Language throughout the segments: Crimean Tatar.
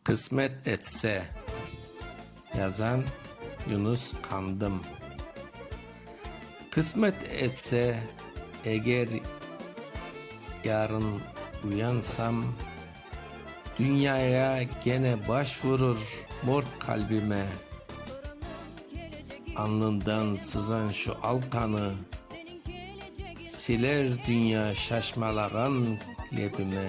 Qısmet etse, yazan Yunus Qandım. Qısmet etse, eger yarın uyansam, dünyaya gene baş vurur mort qalbime, alnından sızan şu al qanı siler dünya şaşmalağan lebime.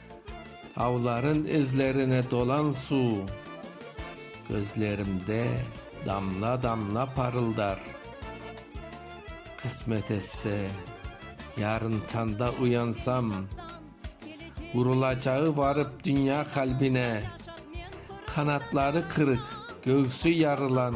Avların izlerine dolan suv. Közlerimde damla-damla parıldar. Qısmet etse, yarın tanda uyansam, Vurulacağı varıp dünya qalbine, Qanatları qırıq, göğsü yarılan.